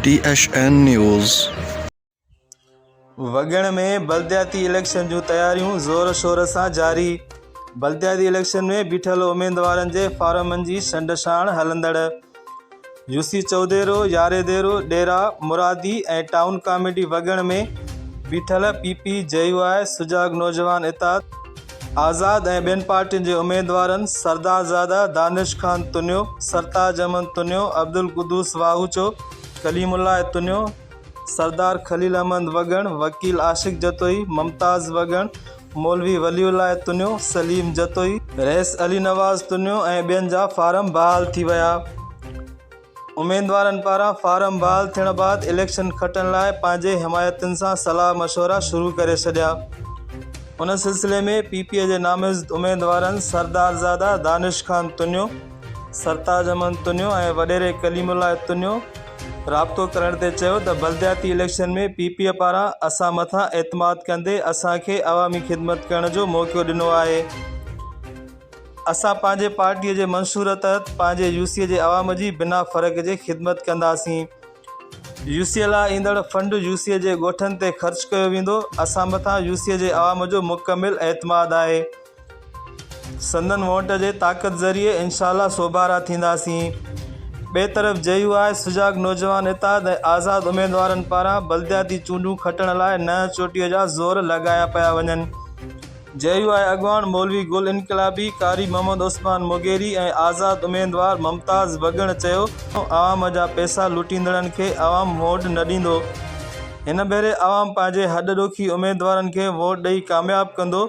ٽي H N news. Waggan ۾ بلدياتي election جون تياريون زور شور سان جاري، بلدياتي اليڪشن ۾ بيٺل اميدوارن جي فارمن جي ڇنڊڇاڻ هلندڙ. يوسي چئوديرو، ياري ديرو، ڏيرا مرادي ۽ ٽائون ڪاميٽي وڳڻ ۾ بيٺل P P, J U I, Sujag Naujawan اتحاد، آزاد ۽ ٻين پارٽين جي اميدوارن سردارزاده دانش خان تنيو، سرتاج احمد تنيو، عبدالقدوس واهوچو، ڪليم الله تنيو، سردار خليل احمد وڳڻ، وڪيل عاشق جتوئي، ممتاز وڳڻ، مولوي ولي الله تنيو، سليم جتوئي، رئيس علي نواز تنيو ۽ ٻين جا فارم بحال ٿي ويا اميدوارن پاران فارم بحال ٿيڻ بعد اليڪشن کٽڻ لاء پنهنجي حمايتين سان صلاح مشورا شروع ڪري ڇڏيا ان سلسلي ۾ پي پي جي نامزد اميدوارن سردارزاده دانش خان تنيو، سرتاج احمد تنيو ۽ وڏيري ڪليم الله تنيو رابطو ڪرڻ تي چيو ته بلدياتي اليڪشن ۾ پي پي اي پاران اسان مٿان اعتماد ڪندي اسان کي عوامي خدمت ڪرڻ جو موقعو ڏنو آهي اسان پنهنجي پارٽي جي منشور تحت پنهنجي يوسي جي عوام جي بنا فرق جي خدمت ڪنداسين يوسي لاء ايندڙ فنڊ يوسي جي ڳوٺن تي خرچ ڪيو ويندو اسان مٿان يوسي جي عوام جو مڪمل اعتماد آهي. سندن ووٽ جي طاقت ذريعي انشاء الله سوڀارا ٿينداسين. ٻئي طرف جي يو آء سجاڳ نوجوان اتحاد ۽ آزاد اميدوارن پاران بلدياتي چونڊون کٽڻ لاء ننهن چوٽيء جا زور لڳايا پيا وڃن. جي يو آء اڳواڻ مولوي گل انقلابي، قاري محمد عثمان موگيري ۽ آزاد اميدوار ممتاز وڳڻ چيو ته عوام جا پئسا لٽيندڙن کي عوام ووٽ نه ڏيندو، هن ڀيري عوام پنهنجي هڏڏوکي اميدوارن کي ووٽ ڏئي ڪامياب ڪندو.